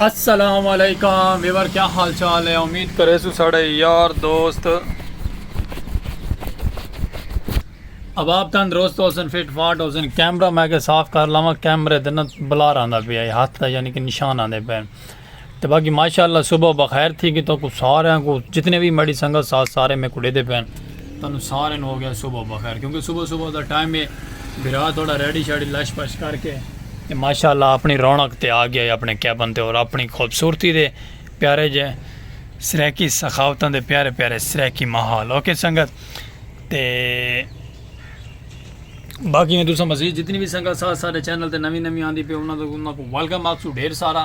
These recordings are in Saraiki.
السلام علیکم ویور کیا حال چال ہے امید کرے سو ساڑے یار دوست اب آپ تن درست ہو سن فٹ فاٹ ہو سن کیمرہ میں کے صاف کر لاواں کیمرے دن بلار آندا پیا ہاتھ دا یعنی کہ نشان آندے پے تے باقی ماشاءاللہ صبح بخیر تھی کہ تو کو سارے کو جتنے بھی مڑی سنگت ساتھ سارے میں کڑے دے پین تنو سارے نو ہو گیا صبح بخیر کیونکہ صبح صبح دا ٹائم ہے برا تھوڑا ریڈی شاڑی لش پش کر کے تے ماشاءاللہ اپنی رونق تے آ گیا اپنے کیبن تے اور اپنی خوبصورتی دے پیارے جے سریکی سخاوتاں دے پیارے پیارے سریکی ماحول اوکے سنگت تے باقی میں دوسرا مزید جتنی بھی سنگا ساتھ سارے چینل تے نوی نوی آندی پہ انہاں تو انہاں کو ویلکم آپ سو ڈھیر سارا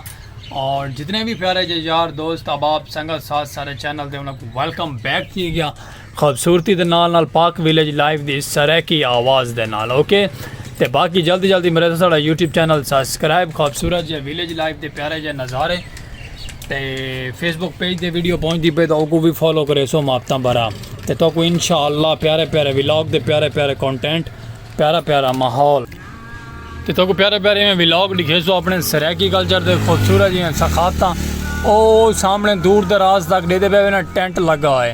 اور جتنے بھی پیارے جے یار دوست احباب سنگا ساتھ سارے چینل تے انہاں کو ویلکم بیک کی گیا خوبصورتی دے نال نال پاک ویلیج لائیو دی سرائیکی آواز دے نال اوکے تے باقی جلدی جلدی میرے سارا یوٹیوب چینل سبسکرائب خوبصورت جے ویلیج لائیو دے پیارے جے نظارے تے فیس بک پیج دے ویڈیو پہنچ دی پہ تو کو بھی فالو کرے سو ماپتا برا تے تو کو انشاءاللہ پیارے پیارے ویلاگ دے پیارے پیارے کانٹینٹ پیارا پیارا ماحول تے تو کو پیارے پیارے میں ویلاگ لکھے سو اپنے سریکی کلچر دے خوبصورت جی ہیں سخاتا او سامنے دور دراز تک دے دے پہ وینا ٹینٹ لگا ہے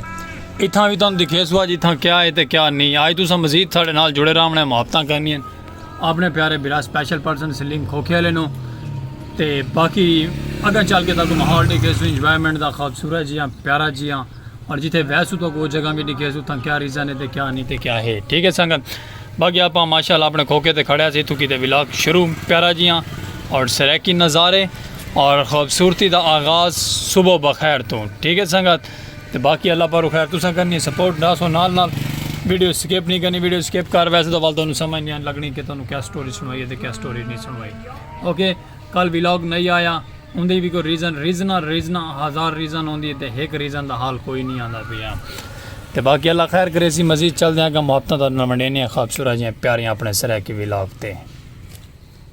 اتھاں بھی تم دکھے سو آج اتھاں کیا ہے تے کیا نہیں آج تو سا مزید تھاڑے نال جڑے رہا ہمنے ماپتا کرنی ہیں آپنے پیارے برا سپیشل پرسن سلیم کھوکھے والے نو تے باقی اگر چل کے تاکہ ماحول دیکھے سو انجوائمنٹ دا خوبصورت جیاں پیارا جیاں اور جتھے ویسو تو وہ جگہ بھی دیکھے سو تھا کیا ریزن ہے تے کیا نہیں تے کیا ہے ٹھیک ہے سنگت باقی آپ ماشاءاللہ اپنے کھوکھے تے کھڑے سی تو کیتے ولاگ شروع پیارا جیاں اور سریکی نظارے اور خوبصورتی دا آغاز صبح بخیر تو ٹھیک ہے سنگت تے باقی اللہ پارو خیر تساں کرنی سپورٹ دا سو نال نال ویڈیو سکپ نہیں کرنی ویڈیو سکپ کر ویسے تو والدہ انہوں سمجھ نہیں لگنی کہ تنہوں کیا سٹوری سنوائی ہے تے کیا سٹوری نہیں سنوائی اوکے کل ویلوگ نہیں آیا ان دی بھی کوئی ریزن ریزنا ریزنا ہزار ریزن ہوندی تے ایک ریزن دا حال کوئی نہیں آندا پیا تے باقی اللہ خیر کرے سی مزید چل دیاں گا محبتاں دا نمڑینے خوابصورت جی پیاریاں اپنے سرے کی ویلوگ تے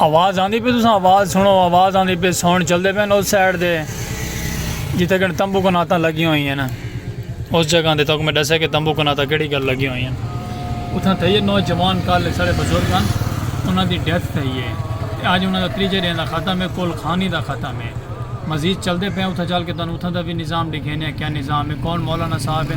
آواز آندی پہ تساں آواز سنو آواز آندی پہ ساؤنڈ چلدے پہ اس سائڈ دے جتھے کہ تمبو کناتا لگی ہوئی ہیں نا اس جگہ دے تو میں ڈسے کہ تمبو کناتا کیڑی گل لگی ہوئی ہیں اتھاں تھے یہ نوجوان کل سارے بزرگ ہیں انہاں دی ڈیتھ تھے یہ آج انہاں دا تریجے دین دا ختم ہے کول خانی دا ختم ہے مزید چلدے پہ اتھاں چل کے تنہوں اتھاں دا بھی نظام دکھینے ہیں کیا نظام ہے کون مولانا صاحب ہے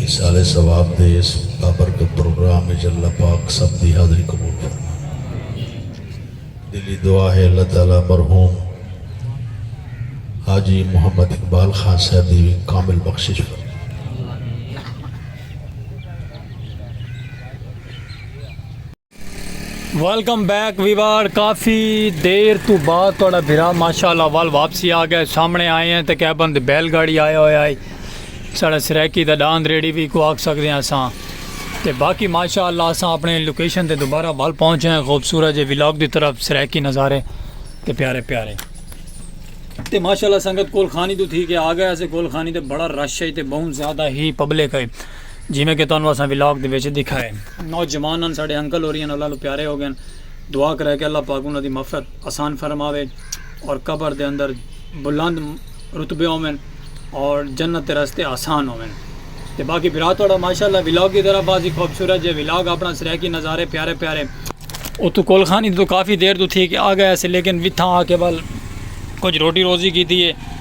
ایصال ثواب دے ایس بابرکت پروگرام وچ اللہ پاک سب دی حاضری قبول فرماون دلی دعا ہے اللہ تعالی مرحوم حاجی محمد اقبال خان صاحب دی وی کامل بخشش فرماون ویلکم بیک ویوار کافی دیر تو بعد تھوڑا بھرا ماشاءاللہ وال واپسی آ گئے سامنے آئے ہیں تے کہہ بند بیل گاڑی آیا ہویا ہے ساڑا سریکی دا ڈاند ریڑی بھی کو آکھ سکدے ہیں اساں تے باقی ماشاءاللہ اساں اپنے لوکیشن تے دوبارہ وال پہنچے ہیں خوبصورت جے ولاگ دی طرف سریکی نظارے تے پیارے پیارے تے ماشاءاللہ سنگت کول خانی تو تھی کہ آ گئے اسے کول خانی تے بڑا رش ہے تے بہت زیادہ ہی پبلک ہے جیویں کہ تہانوں اساں ولاگ دے وچ ڈکھا ہے۔ نوجوان ہن ساڈے انکل ہوری ہن اللہ لو پیارے ہو گئن دعا کرے کہ اللہ پاک انہاں دی مغفرت آسان فرماوے اور قبر دے اندر بلند رتبے ہوون اور جنت دے رستے آسان ہوون تے باقی بھرا تہاڈا ماشاءاللہ ولاگ دی طرح باضی خوبصورت جے ولاگ اپنا سرائیکی نظارے پیارے پیارے۔ اتھوں کول خانی توں کافی دیر توں تھی کے آ گئے اسے لیکن وتھاں آ کے ول کچھ روٹی روزی کیتی ہے۔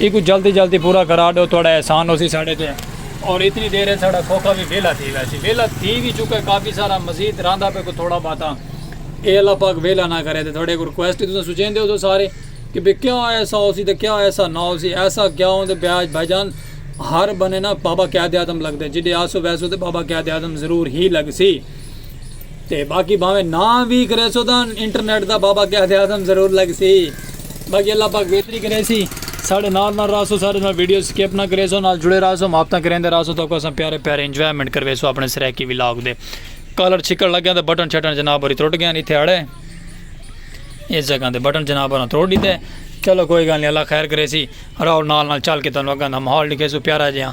ایکوں جلدی جلدی پورا کرا ڈو تہاڈا احسان ہوسی ساڈے تے اور اتنی دیر اچ ساڈا کھوکھا وی ویلا تھی ویسی ویلا تھی وی چکا کافی سارا مزید رہندا پے کوئی تھوڑا باتا اے اللہ پاک ویلا نہ کرے تے تہاڈے اک ریکویسٹ تساں سوچیندے ہوسو سارے کہ بھئی کیا ایسا ہوسی تے کیا ایسا نہ ہوسی ایسا کیا ہوں تے بھیا بھائی جان ہر بندے نا بابا قائد اعظم لگدے جڈے آسو ویسو تے بابا قائد اعظم ضرور ہی لگسی۔ تے باقی بھانویں نہ وی کریسو تاں انٹرنیٹ دا بابا قائد اعظم ضرور لگسی۔ باقی اللہ پاک بہتری کریسی۔ ساڈے نال نال راہسو ساڈے نال ویڈیو سکپ نہ کریسو نال جڑے راہسو محبتاں کریندے راہسو تہاکوں اساں پیارے پیارے انجوائمنٹ کرویسو اپنے سرائیکی ولاگ دے۔ کالر چھکڑ لگیاں تے بٹن شٹن جناب ہوری ترٹ گیاں اتھے اڑے اس جگہ تے بٹن جناب ہوراں تروڑ ڈیتے۔ چلو کوئی گل نی اللہ خیر کریسی راہو نال نال چل کے تانوں اگاں دا ماحول ڈکھیسوں پیارا جیہاں۔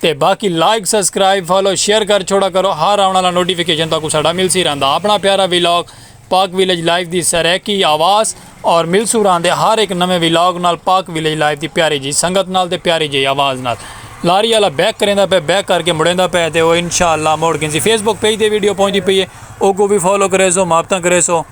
تے باقی لائک سبسکرائب فالو شیئر کر چھوڑا کرو ہر آون آلا نوٹیفیکیشن تہاکوں ساڈا ملسی رہندا اپنا پیارا ویلاگ پاک ویلیج لائف دی سرائیکی آواز اور ملسوں راہندے ہر ہک نویں ویلاگ نال پاک ویلیج لائف دی پیاری جئی سنگت نال تے پیاری جئی آواز نال لاری آلا بیک کریندا پئے بیک کر کے مڑیندا پئے تے او انشاءاللہ مڑ گھنسی فیس بک پیج تے ویڈیو پہنچدی پئی اے اوکوں وی فالو کریسو محبتاں کریسو